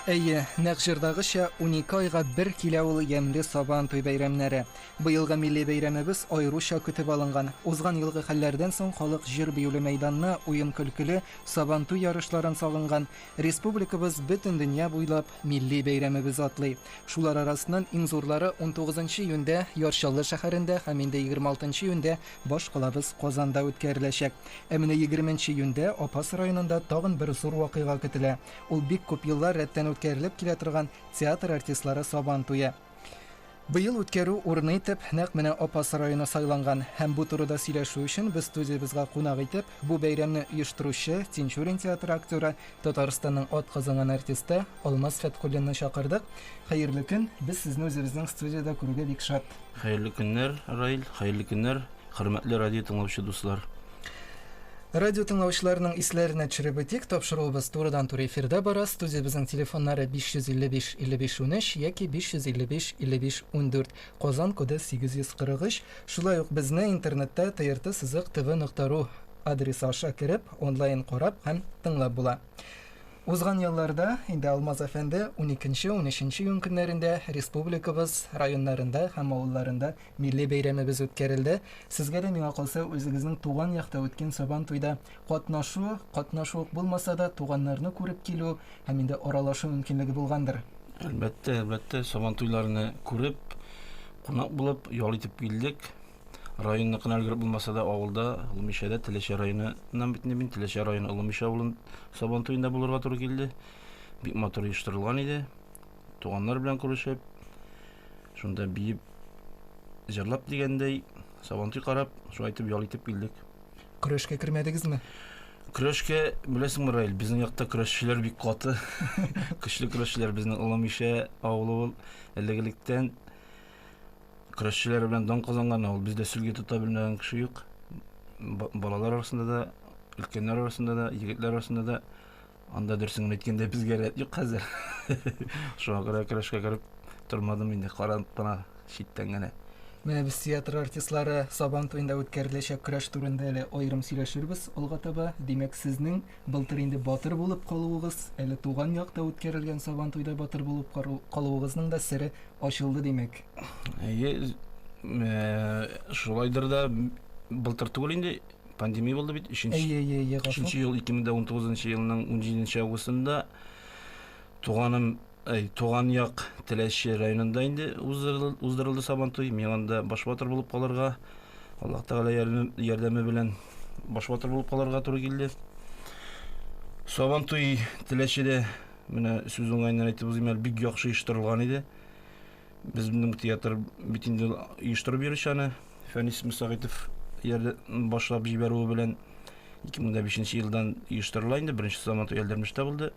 Әйе, нәкъ җырдагыча, унике айга бер килә ул ямьле Сабан туй бәйрәмнәре. Быелгы милли бәйрәмебез аеруча көтеп алынган. Узган елгы хәлләрдән соң халык җыр-биюле мәйданны, уен-көлкеле Сабан туй ярышларын сагынган. Республикабыз бөтен дөнья буйлап милли бәйрәмебез атлый. Шулар арасыннан иң зурлары 19 июньдә Ярчаллы шәһәрендә һәм инде 26 июньдә баш калабыз Казанда үткәреләчәк. Ә менә 20 июньдә Апас районында тагын бер зур вакыйга көтелә. Ул бик күп еллар рәттән үткәрелеп килә торган театр артистлары Сабан туе. Быел үткәрү урыны итеп нәкъ менә Апас районы сайланган. Һәм бу турыда сөйләшү өчен без студиябезгә кунак итеп, бу бәйрәмне оештыручы, Тинчурин театры актеры, Татарстанның атказанган артисты Алмаз Фәтхуллинны чакырдык. Хәерле көн! Без сезне үзебезнең студиядә күрүгә бик шат. Хәерле көннәр, Раил, хәерле көннәр. Хөрмәтле радио тыңлаучы дуслар! Радио тыңлаучыларның исләренә төшереп үтик, тапшыруыбыз турыдан-туры эфирда бара, студиябезнең телефоннары 555-55 13 яки 555-55-14, Казан коды 843, шулай ук безне интернетта trt сызык tv нокта ру адресы аша кереп, онлайн карап һәм тыңлап була. Узган елларда инде Алмаз әфәнде уникенче-унөченче июнь көннәрендә республикабыз районнарында һәм авылларында Милли бәйрәмебез үткәрелде. Сезгә дә, миңа калса, үзегезнең туган якта үткән Сабан туйда катнашу, катнашу ук булмаса да, туганнарны күреп килү һәм инде аралашу мөмкинлеге булгандыр? Әлбәттә, әлбәттә, Сабан туйларны күреп, кунак булып, ял итеп килдек. Районныкына өлгереп булмаса да, авылда, Олымишәдә, Теләче районы ннан бит инде мин, Теләче районы Олымиша авылын Сабан туенда булырга туры килде. Бик матур оештырылган иде. Туганнар белән күрешеп, Шунда биеп, җырлап дигәндәй, сабантуй карап, шулай итеп ял итеп килдек. Көрәшкә кермәдегезме? Көрәшкә, беләсеңме, Раил, безнең якта көрәшчеләр бик каты. Көчле көрәшчеләр безнең Олы Мишә авылы ул. Элек-электән көрәшчеләр белән дан казанган авыл. Бездә сөлге тота белмәгән кеше юк. Балалар арасында да, өлкәннәр арасында да, егетләр арасында да Анда дөресен генә әйткәндә безгә рәт юк хәзер. Шуңа күрә көрәшкә кереп тормадым инде, карап кына читтән генә. Менә без театр артистлары Сабан туенда үткәреләчәк көрәш турында әле аерым сөйләшербез алга таба. Димәк, сезнең былтыр инде батыр булып калуыгыз, әле туган якта үткәрелгән Сабан туйда батыр булып калуыгызның да сере ачылды, димәк. Әйе, шулайдыр да, былтыр түгел инде, Пандемия булды бит, өченче, Әйе, әйе, әйе, гафу. өченче ел 2019 елның 17 августында туганым, әй, туган як Теләче районында инде уздырыл- уздырылды Сабантуй. Мин анда баш батыр булып калырга, Аллаһ Тәгалә ярдәме- ярдәме белән баш батыр булып калырга туры килде. Сабантуй Теләчедә, менә сүз уңаеннан әйтеп узыйм әле, бик яхшы оештырылган иде. Безнең театр бит инде оештырып йөрүче аны Фәнис Мөсәгыйтов башлап җибәрүе белән 2005 елдан оештырыла инде. Беренче заман Ялдермештә булды.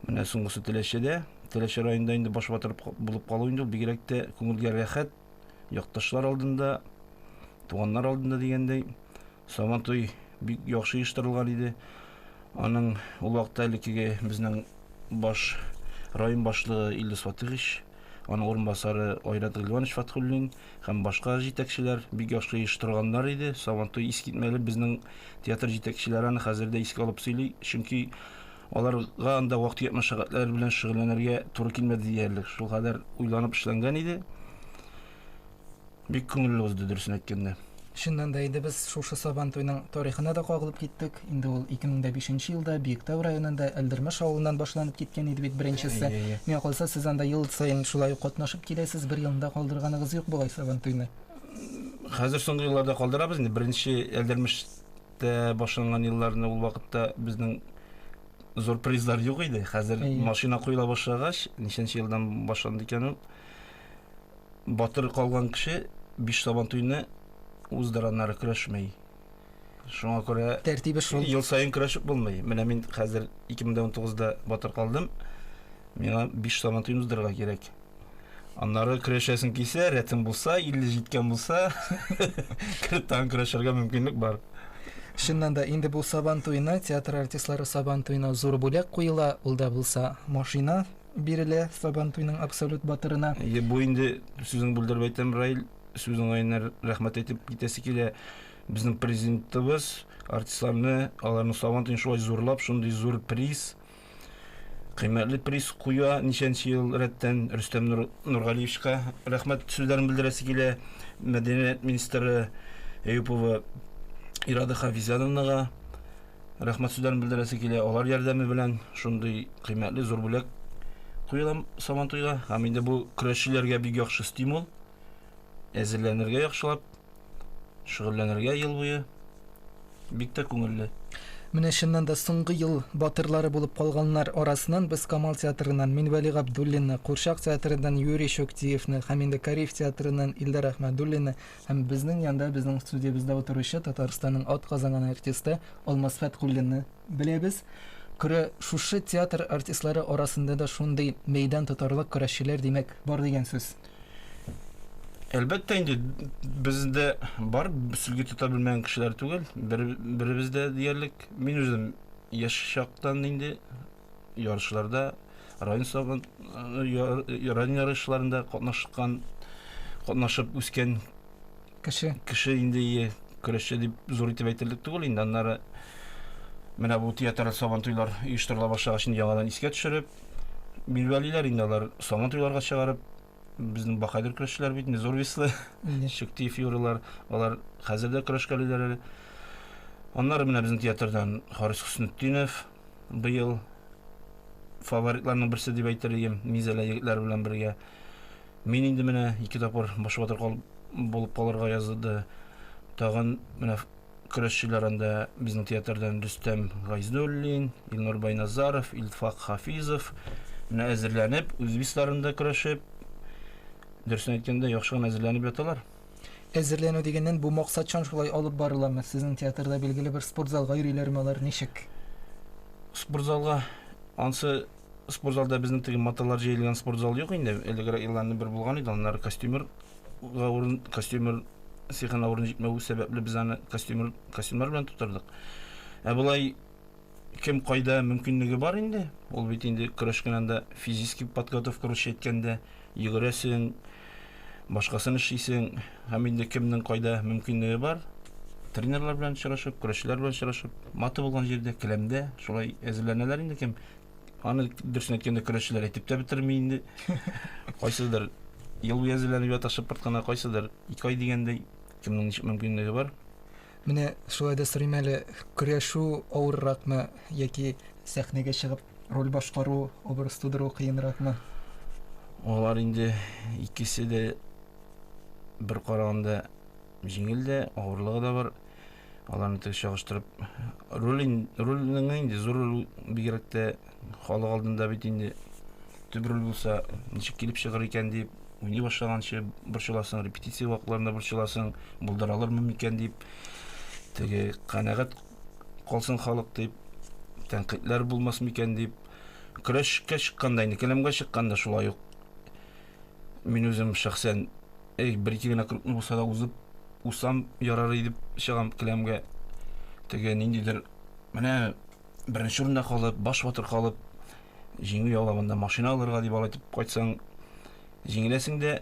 Менә соңгысы Теләчедә. Теләче районында инде баш батыр булып калу инде ул бигрәк тә күңелгә рәхәт. Якташлар алдында, туганнар алдында дигәндәй, Сабантуй бик яхшы оештырылган иде. Аның ул вакытта элеккеге безнең баш район башлыгы Илдус Фатыйхович, аның урынбасары Айрат Гыйльванович Фатхуллин һәм башка җитәкчеләр бик яхшы оештырганнар иде. Сабантуй искитмәле безнең театр җитәкчеләре аны хәзер дә искә алып сөйли, чөнки аларга анда вак-төяк мәшәкатьләр белән шөгыльләнергә туры килмәде диярлек, шулкадәр уйланып эшләнгән иде. Бик күңелле узды, дөресен әйткәндә. Чыннан да инде без шушы Сабан туйның тарихына да кагылып киттек. Инде ул 2005 нче елда Биектау районында Әлдермеш авылыннан башланып киткән иде бит беренчесе. Миңа калса, сез анда ел саен шулай ук катнашып киләсез, бер елында калдырганыгыз юк болай Сабан туйны. Хәзер соңгы елларда калдырабыз инде, беренче Әлдермештә башланган елларны ул вакытта безнең зур призлар юк иде, хәзер машина куела башлагач, ничәнче елдан башланды икән ул? Батыр калган кеше биш Сабантуйны уздыраннары көрәшми. Шуңа күрә Тәртибе шул. ел саен көрәшеп булмый. Менә мин хәзер 2019-да батыр калдым. Миңа биш Сабантуйны уздырырга кирәк. Аннары көрәшәсең килсә, рәтең булса, 50 җиткән булса, кереп тагын көрәшергә мөмкинлек бар. Чыннан да, инде бу Сабантуена, театр артистлары Сабантуена зур бүләк куела, ул да булса, машина. бирелә Сабантуйның абсолют батырына. Әйе, бу инде, сүзеңне бүлдереп әйтәм, Раил, сүз уңаеннан р- рәхмәт әйтеп китәсе килә. Безнең президентыбыз артистларны, аларның Сабантуен шулай зурлап, шундый зур приз, кыйммәтле приз куя ничәнче ел рәттән. Рөстәм Нур, Нургалиевичка рәхмәт сүзләрен белдерәсе килә, мәдәният министры Әюпова Ирада Хафизяновнага. рәхмәт сүзләрен белдерәсе килә. Алар ярдәме белән шундый кыйммәтле зур бүләк куелам Сабантуйга. Һәм инде бу көрәшчеләргә бик яхшы стимул. Әзерләнергә яхшылап, шөгыльләнергә ел буе. Бик тә күңелле. Менә чыннан да соңгы ел батырлары булып калганнар арасыннан без Камал театрыннан Минвәли Габдуллинны, Курчак театрыннан Юрий Чуктиевны һәм инде Кариев театрыннан Илдар Әхмәдуллинны Һәм безнең янда, безнең студиябездә утыручы Татарстанның атказанган артисты Алмаз Фәткуллинны беләбез. Көрә шушы театр артистлары арасында да шундый мәйдан тотарлык көрәшчеләр, димәк, бар дигән сүз. Әлбәттә инде, без дә бар, сөлге тота белмәгән кешеләр түгел, бер, беребез дә диярлек. Мин үзем яшь чактан инде ярышларда район сабын район ярышларында катнашкан катнашып үскән кеше кеше инде көрәшче дип зур итеп әйтерлек түгел инде аннары менә бу театр сабан туйлар оештырыла башлагач инде яңадан искә төшереп билбәлиләр инде алар сабан туйларга чыгарып безнең бакайдыр көрәшчеләр бит зур веслы шектиев юрылар алар хәзер дә көрәшкәлиләр әле аннары менә безнең театрдан харис хөснетдинов быел фаворитларның берсе дип әйтер идем, Мизәлә егетләре белән бергә. Мин инде менә ике тапкыр баш батыр кал, булып калырга язды. Тагын менә көрәшчеләр анда безнең театрдан Рөстәм Гайзуллин, Илнур Байназаров, Илфак Хафизов менә әзерләнеп, үзбисларында көрәшеп, дөресен әйткәндә, яхшы гына әзерләнеп яталар. Әзерләнү дигәннән бу максатчан шулай алып барыламы? Сезнең театрда билгеле бер спорт залга йөриләрме алар, ничек? Спорт залга ансы спорт залда безнең теге маталар җәелгән спорт зал юк инде. Элегрәк елларны бер булган иде, аннары костюмер урын костюмер сихана урын җитмәве сәбәпле без аны костюмер костюмер белән тутырдык. Ә болай кем кайда мөмкинлеге бар инде. Ул бит инде көрәшкән анда физически подготовка русча әйткәндә, йөгерәсең, башкасын эшлисең, һәм инде кемнең кайда мөмкинлеге бар, тренерлар белән очрашып, көрәшчеләр белән очрашып, маты булган җирдә, келәмдә шулай әзерләнәләр инде кем. Аны дөресен әйткәндә көрәшчеләр әйтеп тә бетерми инде. Кайсыдыр ел буе әзерләнеп ята шыпырт кына, кайсыдыр ике ай дигәндәй, кемнең ничек мөмкинлеге бар. Менә шулай да сорыйм әле, көрәшү авырракмы яки сәхнәгә чыгып роль башкару, образ тудыру кыенракмы? Алар инде икесе дә бер караганда җиңел дә, авырлыгы да бар. Аларны тек чагыштырып, роль рольнең инде зур роль бигрәк тә Халык алдында бит инде төп роль булса, ничек килеп чыгыр икән дип, уйный башлаганчы борчыласың, репетиция вакытларында борчыласың, булдыра алырмы микән дип, теге канәгать калсын халык дип, тәнкыйтьләр булмас микән дип, көрәшкә чыкканда инде, келәмгә чыкканда шулай ук мин үзем шәхсән, эй, бер-ике генә кругны булса да узып, усам ярар идеп чыгам келәмгә. Теге ниндидер, менә беренче урында калып, баш батыр калып, җиңү яулаганда машина алырга дип алай итеп кайтсаң, җиңеләсең дә,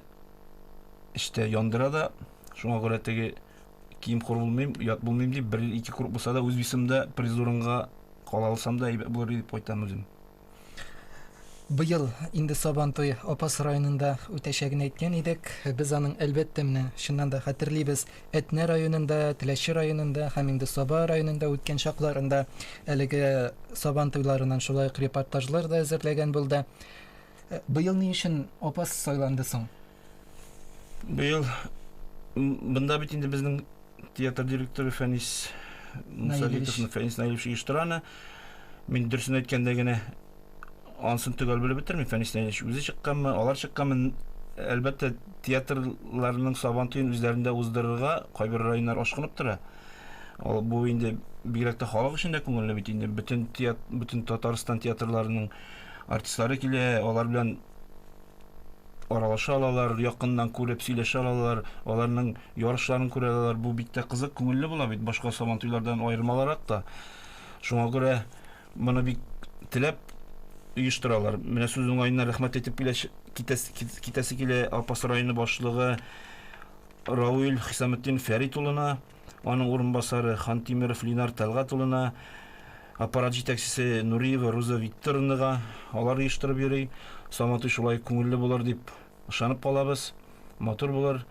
эчтә яндыра да. Шуңа күрә теге кием хур булмыйм, ят булмыйм дип, бер ел ике курп булса да, үз весымда приз урынга кала алсам да әйбәт булыр иде дип кайтам үзем. Быел инде Сабан туе Апас районында үтәчәген әйткән идек. Без аның, әлбәттә, менә чыннан да хәтерлибез, Әтнә районында, Теләче районында һәм инде Саба районында үткән чакларында әлеге Сабан туйларыннан шулай ук репортажлар да әзерләгән булды. Быел ни өчен Апас сайланды соң? Быел бында бит инде безнең театр директоры Фәнис Мусалитовны Фәнис Наилевич оештыра аны. Мин дөресен әйткәндә генә ансын төгәл белеп бетермим. Фәнис Наилевич үзе чыкканмы, алар чыкканмы? Әлбәттә, театрларның сабан туен үзләрендә уздырырга кайбер районнар ашкынып тора. Ул бу инде бигрәк тә халык өчен дә күңелле бит инде. Бөтен театр, бөтен Татарстан театрларының артистлары килә, алар белән аралаша алалар, якыннан күреп, сөйләшә алалар, аларның ярышларын күрә алалар. Бу бик тә кызык, күңелле була бит, башка Сабантуйлардан аерым аларак та. Шуңа күрә моны бик теләп оештыралар. Менә сүз уңаеннан рәхмәт әйтеп киләсе, китәсе килә Апас районы башлыгы Рауил Хисаметдин Фәрит улына. аның урынбасары Хантимеров Линар Тәлгать улына, аппарат җитәкчесе Нуриева Руза Викторовнага, алар оештырып йөри. Сабантуй шулай күңелле булыр дип ышанып калабыз. Матур булыр.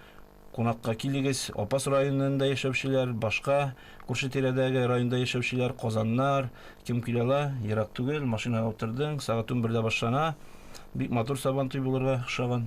Кунакка килегез. Апас районында яшәүчеләр, башка күрше-тирәдәге районда яшәүчеләр, Казаннар, кем килә ала, ерак түгел, машинага утырдың, сәгать унбердә башлана. Бик матур Сабантуй булырга охшаган.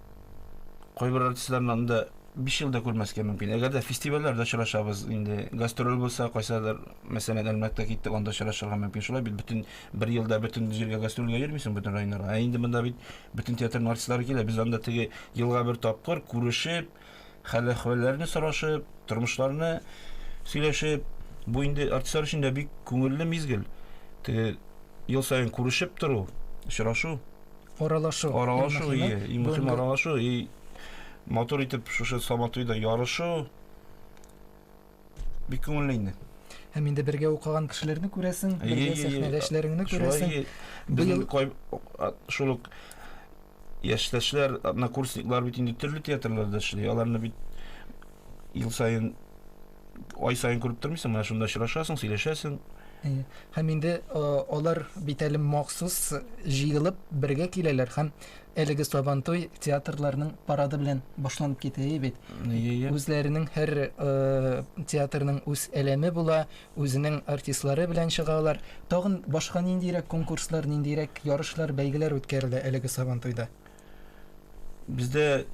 Кайбер артистларны анда биш ел да күрмәскә мөмкин. Әгәр дә фестивальләрдә очрашабыз, инде гастроль булса, кайсыдыр, мәсәлән, Әлмәткә киттек, анда очрашырга мөмкин. Шулай бит, бөтен бер елда бөтен җиргә гастрольгә йөрмисең, бөтен районнарга. Ә инде монда бит бөтен театрның артистлары килә, без анда теге елга бер тапкыр күрешеп, Хәл-әхвәлләрне сорашып, тормышларны сөйләшеп, бу инде артистлар өчен дә бик күңелле мизгел. Теге ел саен күрешеп тору, очрашу. Аралашу. Аралашу, ие, иң мөһиме аралашу. И матур итеп шушы Сабантуйда ярышу. Бик күңелле инде. Һәм инде бергә укыган кешеләрне күрәсең, бергә сәхнәдәшләреңне күрәсең. Безнең шул ук яшьтәшләр, однокурсниклар бит инде төрле театрларда эшли. Аларны бит ел саен ай саен күреп тормыйсың, менә шунда очрашасың, сөйләшәсең. Һәм инде алар бит әле махсус җыелып бергә киләләр һәм Әлеге Сабантуй театрларның парады белән башланып китә бит. Үзләренең һәр театрның үз әлеме була, үзенең артистлары белән чыгалар. Тагын башка ниндирәк конкурслар, ниндирәк ярышлар, бәйгеләр үткәрелә әлеге Сабантуйда? Бездә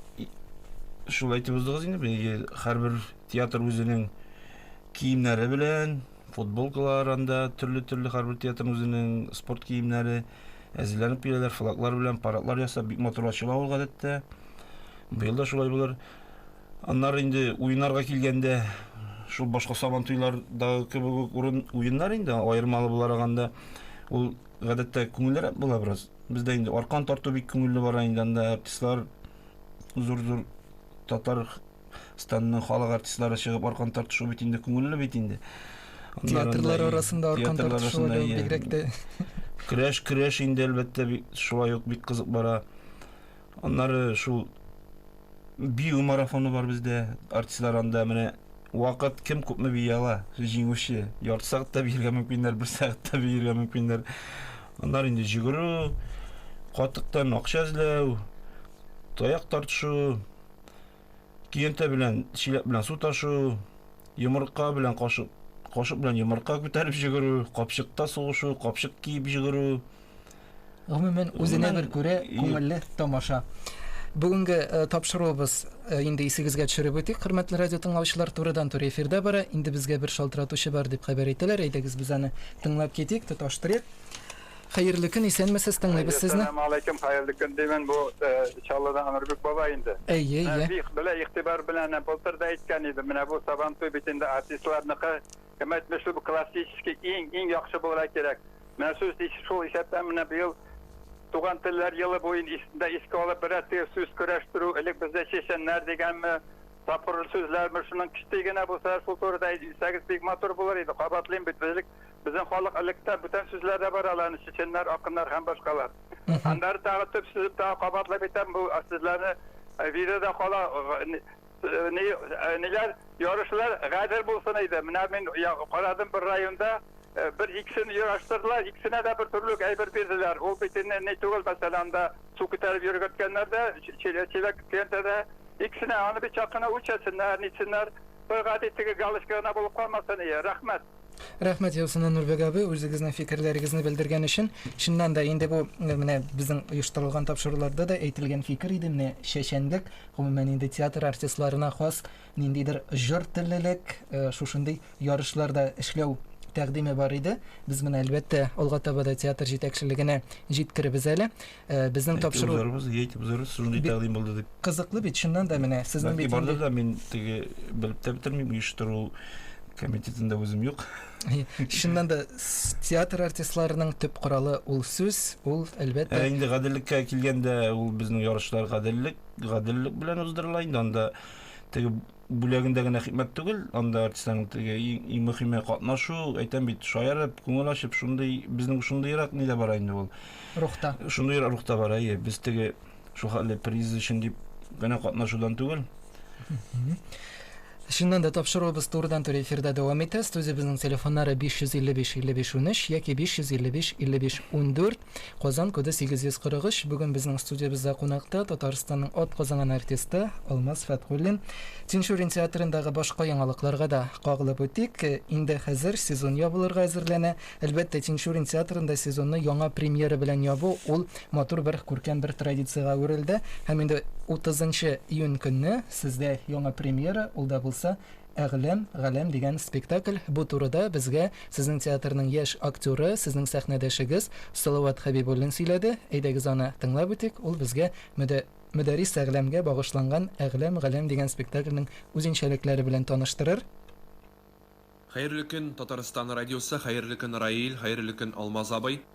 шулай итеп уздыгыз инде, һәрбер театр үзенең киемнәре белән, Футболкалар анда, төрле-төрле һәрбер театрның үзенең спорт киемнәре. Әзерләнеп киләләр, флаглар белән парадлар ясап, бик матур ачыла ул гадәттә. Быел да шулай булыр. Аннары инде уеннарга килгәндә, шул башка Сабантуйлардагы кебек үк урын уеннар инде, аермалы буларак анда ул гадәттә күңеллерәк була бераз. Бездә инде аркан тарту бик күңелле бара инде анда, артистлар зур-зур татар Татарстанның халык артистлары чыгып аркан тартышу бит инде күңелле бит инде. Театрлар арасында аркан тартышу бигрәк тә. Көрәш, көрәш инде әлбәттә шулай ук бик кызык бара. Аннары шул бию марафоны бар бездә. Артистлар анда менә вакыт кем күпме бии ала, җиңүче. Ярты сәгатьтә биергә мөмкиннәр, бер сәгатьтә биергә мөмкиннәр. Аннары инде җөгерү, катыктан акча эзләү, таяк тартышу, Киенте белән чиләк белән су ташу, йомырка белән кашык, кашык белән йомырка күтәреп җөгерү, капчыкта сугышу, капчык киеп җөгерү. Гомумән, үзенә бер күрә күңелле тамаша. Бүгенге э, тапшыруыбыз э, инде исегезгә төшереп үтик, хөрмәтле радио тыңлаучылар, турыдан-туры эфирда бара. Инде безгә бер шалтыратучы бар дип хәбәр итәләр. Әйдәгез без аны тыңлап китик, тоташтырыйк. Хәерле көн, исәнмесез, тыңлыйбыз сезне. Әссәламәгаләйкем, хәерле көн димен, бу Чаллыдан Анурбик бабай инде. Әйе, әйе. Менә бик белә игътибар белән әнә былтыр да әйткән идем, менә бу Сабантуй бит инде артистларныкы, кем әйтмешли бу классический иң, иң яхшы булырга кирәк. Менә сүз ис, шул исәптән менә быел Туган телләр елы буен ис, дә искә алып берәр теге сүз көрәштерү, элек бездә чәчәннәр дигәнме, тапкырлы сүзләрме, шуның кечти генә булса шул турыда әйтсәгез бик матур булыр иде, кабатлыйм бит, элек Безнең халык электә бүтән сүзләр дә бар аларны, чеченнар, акыннар һәм башкалар. Аннары тагы төп сүзеп тагы кабатлап әйтәм, бу сүзләрне э, видеода кала ни, ниләр ярышлар гадел булсын иде. Менә мин карадым бер районда Э, бер иксен ярыштырдылар, иксенә дә бер төрлек әйбер бирделәр. Ул бит инде ни түгел, мәсәлән, анда су күтәреп йөргәткәннәр дә, чиләк кенә дә. Иксенә аны бит чакына үлчәсеннәр, нитсеннәр. Бер гади теге галочка гына булып калмасын, ие, рәхмәт. Рәхмәт яусына Нурбек абый, үзегезнең фикерләрегезне белдергән өчен. Чыннан да инде бу э, менә безнең оештырылган тапшыруларда да әйтелгән фикер иде, менә чәчәнлек, гомумән инде театр артистларына хас ниндидер җор теллелек, э, шушындый ярышларда эшләү тәкъдиме бар иде. Без менә әлбәттә алга таба да театр җитәкчелегенә җиткеребез әле. Э, безнең тапшыру узарбыз әйтеп узарбыз шундый тәкъдим булды дип кызыклы бит чыннан да менә сезнең бит бардыр да мин теге белеп тә бетермим оештыру комитетында үзем юк чыннан да театр артистларының төп коралы ул сүз ул әлбәттә ә инде гаделлеккә килгәндә ул безнең ярышлар гаделлек гаделлек белән уздырыла инде анда теге Бүләгендә генә хикмәт түгел, анда артистларның теге иң мөхиме катнашу, әйтәм бит, шаярып, күңел ачып, шундый безнең шундыйрак нидә бара инде ул. Рухта. Шундыйрак рухта бара, әйе. Без теге шул хәтле приз өчен дип генә катнашудан түгел. Чыннан да тапшыруыбыз турыдан-туры эфирда дәвам итә. Студиябезнең телефоннары 555-55-13 яки 555-55-14. Казан коды 843 бүген безнең студиябездә кунакта Татарстанның атказанган артисты Алмаз Фәтхуллин. Тинчурин театрындагы башка яңалыкларга да кагылып үтик. Инде хәзер сезон ябылырга әзерләнә. Әлбәттә, Тинчурин театрында сезонны яңа премьера белән ябу ул матур бер, күркәм бер традициягә әверелде. Һәм инде 30 нчы июнь көнне сездә яңа премьера, ул да булса Әгъләм, галәм дигән спектакль, бу турыда безгә сезнең театрның яшь актеры, сезнең сәхнәдәшегез Салават Хәбибуллин сөйләде. Әйдәгез аны тыңлап үтик, ул безгә Мөдә, Мөдәррис Әгъләмгә багышланган Әгъләм, галәм дигән спектакльнең үзенчәлекләре белән таныштырыр. Хәерле көн, Татарстан радиосы, хәерле көн, Раил, хәерле көн, Алмаз абый.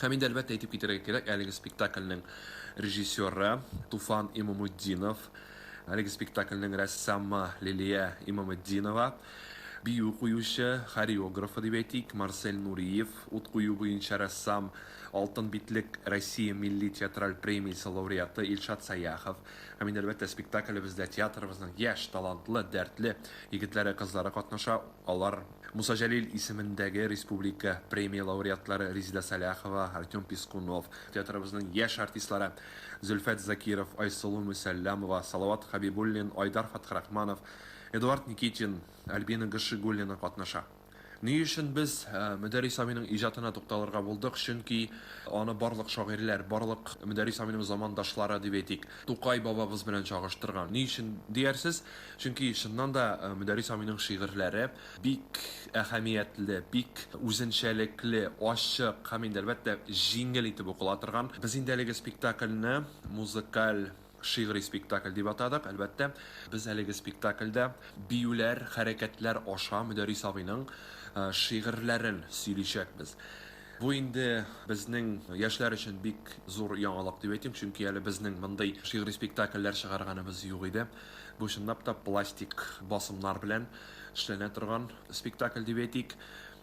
Һәм инде, әлбәттә, әйтеп китәргә кирәк, әлеге спектакльнең режиссеры, Туфан Имаметдинов, әлеге спектакльнең рәссамы, Лилия Имаметдинова, бию куючы, хореографы, дип әйтик, Марсель Нуриев, ут кую буенча рәссам, Алтын битлек Россия милли театраль премиясе лауреаты Илшат Саяхов. Һәм инде, әлбәттә, спектаклебездә театрыбызның яшь, талантлы, дәртле егетләре, кызлары катнаша, алар, Муса Җәлил исемендәге республика премия лауреатлары Резеда Сәлахова, Артем Пискунов, театрыбызның яшь артистлары Зөлфәт Закиров, Айсылу Мөсәлләмова, Салават Хәбибуллин, Айдар Фатхрахманов, Эдуард Никитин, Альбина Гашигуллина катнаша. Ни өчен без Мөдәррис абыйның иҗатына тукталырга булдык, чөнки аны барлык шагыйрьләр, барлык Мөдәррис абыйның замандашлары дип әйтик, Тукай бабабыз белән чагыштырган. Ни өчен диярсез? Чөнки, чыннан да, Мөдәррис абыйның шигырьләре бик әһәмиятле, бик үзенчәлекле, ачык һәм инде, әлбәттә, җиңел итеп укыла торган. Без инде әлеге спектакльне музыкаль шигъри спектакль дип атадык. Әлбәттә, без әлеге спектакльдә биюләр, хәрәкәтләр аша Мөдәррис абыйның шигырьләрен сөйличәкбез. Бу инде безнең яшьләр өчен бик зур яңалык дип әйтим, чөнки әле безнең мондый шигъри спектакльләр чыгарганыбыз юк иде. Бу чынлап та пластик басымнар белән эшләнә торган спектакль дип әйтик.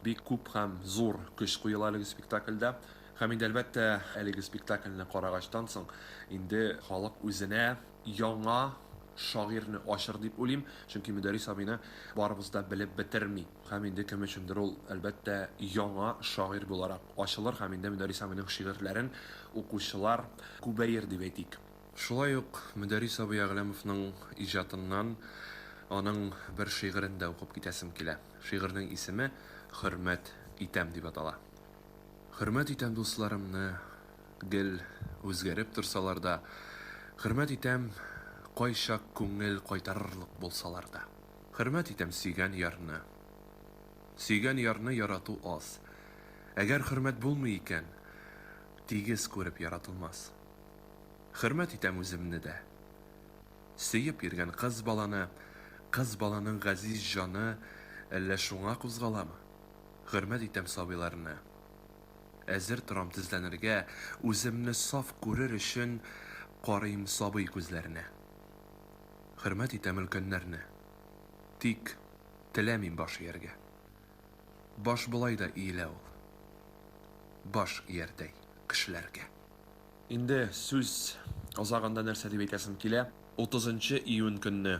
Бик күп һәм зур көч куела әлеге спектакльдә. Һәм инде әлбәттә әлеге спектакльне карагачтан соң инде халык үзенә, яңа шагыйрьне ачыр дип уйлыйм, чөнки Мөдәррис абыйны барыбыз да белеп бетерми. Һәм инде кем өчендер ул, әлбәттә, яңа шагыйрь буларак ачылыр һәм инде Мөдәррис абыйның шигырьләрен укучылар күбәер дип әйтик. Шулай ук Мөдәррис абый Әгъләмовның иҗатыннан аның бер шигырен дә укып китәсем килә. Шигырьнең исеме Хөрмәт итәм дип атала. Хөрмәт итәм дусларымны, гел үзгәреп торсалар да, Хөрмәт итәм, кайчак күңел кайтарырлык булсалар да. Хөрмәт итәм сөйгән ярны. Сөйгән ярны ярату аз. Әгәр хөрмәт булмый икән, тигез күреп яратылмас. Хөрмәт итәм үземне дә. Сөеп йөргән кыз баланы, кыз баланың газиз җаны әллә шуңа кузгаламы? Хөрмәт итәм сабыйларны. Әзер торам тезләнергә, үземне саф күрер өчен карыйм сабый күзләренә. Хөрмәт итәм өлкәннәрне. Тик теләмим баш ияргә. Баш болай да иелә ул. Баш иярдәй кешеләргә. Инде сүз азагында нәрсә дип әйтәсем килә, утызынчы июнь көнне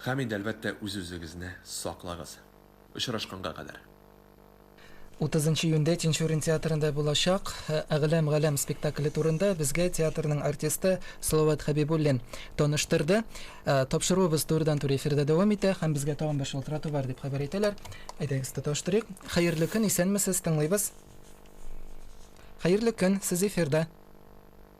Һәм инде, әлбәттә, үз-үзегезне саклагыз. Очрашканга кадәр. Утызынчы июньдә Тинчурин театрында булачак Әгълам Галәм спектакле турында безгә театрның артисты Салават Хәбибуллин таныштырды. Тапшыруыбыз турыдан-туры эфирда дәвам итә һәм безгә тагын бер шалтырату бар, дип хәбәр итәләр. Әйдәгез, тоташтырыйк. Хәерле көн, исәнмесез, тыңлыйбыз. Хәерле көн, сез эфирда.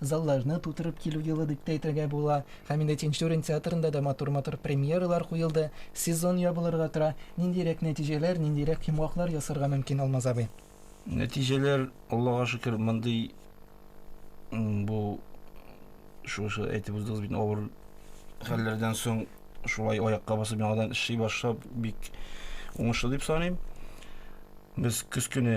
Залларны тутырып килү елы дип тә әйтергә була. Һәм инде Тинчурин театрында да матур-матур премьералар куелды. Сезон ябылырга тора. Ниндирәк нәтиҗәләр, ниндирәк йомгаклар ясарга мөмкин, Алмаз абый? Нәтиҗәләр, Аллага шөкер, мондый бу шушы әйтеп уздыгыз бит, авыр хәлләрдән соң шулай аякка басып яңадан эшли башлап бик уңышлы дип саныйм. Без көз көне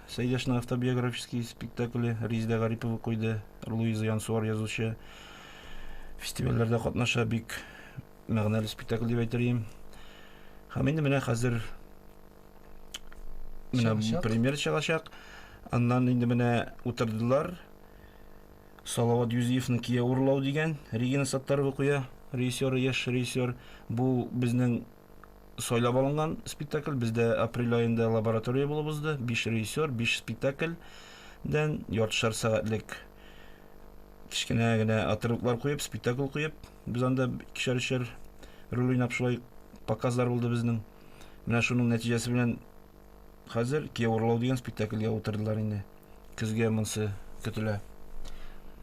Сәйдәшнең автобиографический спектакле Резидә Гарипова куйды. Луиза Янсуар язучы фестивальләрдә катнаша, бик мәгънәле спектакль дип әйтерим. Һәм инде менә хәзер менә премьер чыгачак. Аннан инде менә утырдылар. Салават Юзиевның Кияү урлау дигән Регина Саттарова куя. Режиссеры яшь режиссер. Бу безнең сайлап алынган спектакль. Бездә апрель аенда лаборатория булып узды. Биш режиссер, биш спектакльдән яртышар сәгатьлек кечкенә генә отрывклар куеп, спектакль куеп, без анда икешәр-өчәр роль уйнап шулай показлар булды безнең. Менә шуның нәтиҗәсе белән Хәзер Кияү урлау дигән спектакльгә утырдылар инде. Көзгә монсы көтелә.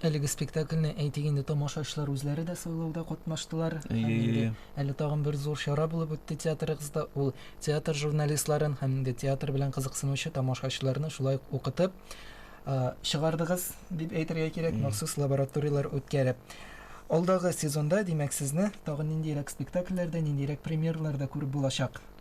Әлеге спектакльне, әйтик инде, тамашачылар үзләре дә сайлауда катнаштылар. Һәм инде әле тагын бер зур чара булып үтте театрыгызда. Ул театр журналистларын һәм инде театр белән кызыксынучы тамашачыларны шулай ук укытып чыгардыгыз, дип әйтергә кирәк, махсус лабораторияләр үткәреп. Алдагы сезонда, димәк, сезне тагын ниндирәк спектакльләрдә, ниндирәк премьераларда күреп булачак?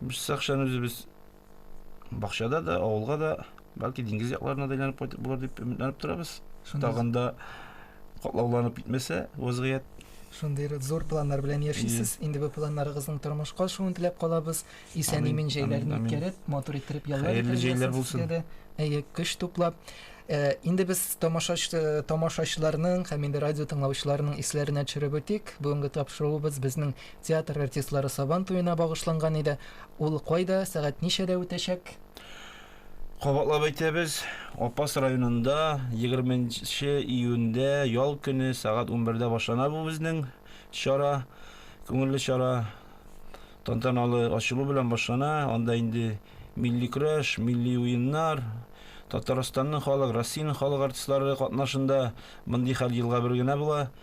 Без Сакчаны үзебез бакчада да, авылга да, бәлки диңгез якларына да әйләнеп кайтып булыр дип өметләнеп торабыз. Тагын да катлауланып китмәсә вазгыять. Шундый зур планнар белән яшисез. Инде бу планнарыгызның тормышка ашуын теләп калабыз. Исән имин җәйләрен үткәреп, матур иттереп яллар Хәерле җәйләр булсын. Әйе, көч туплап. Э, инде без тамашач э, тамашачыларның һәм инде радио тыңлаучыларның исләренә төшереп үтик. Бүгенге тапшыруыбыз безнең Театр артистлары Сабан туена багышланган иде. Ул кайда, сәгать ничәдә үтәчәк? Кабатлап әйтәбез, Апас районында егерме нче июньдә, ял көне, сәгать унбердә башлана бу безнең чара, күңелле чара. Тантаналы ачылу белән башлана. Анда инде милли көрәш, милли уеннар, Татарстанның халык, Россиянең халык артистлары катнашында. Мондый хәл елга бер генә була.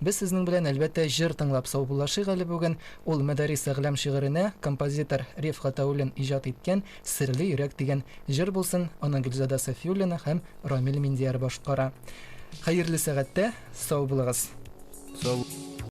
Без сезнең белән, әлбәттә, җыр тыңлап саубуллашыйк әле бүген. Ул Мәдарис әгълам шигыренә композитор Риф Гатауллин иҗат иткән Серле йөрәк дигән җыр булсын, аны Гөлзада Сафиуллина һәм Рамил Миндияр башкара. Хәерле сәгатьтә сау булыгыз! Сау.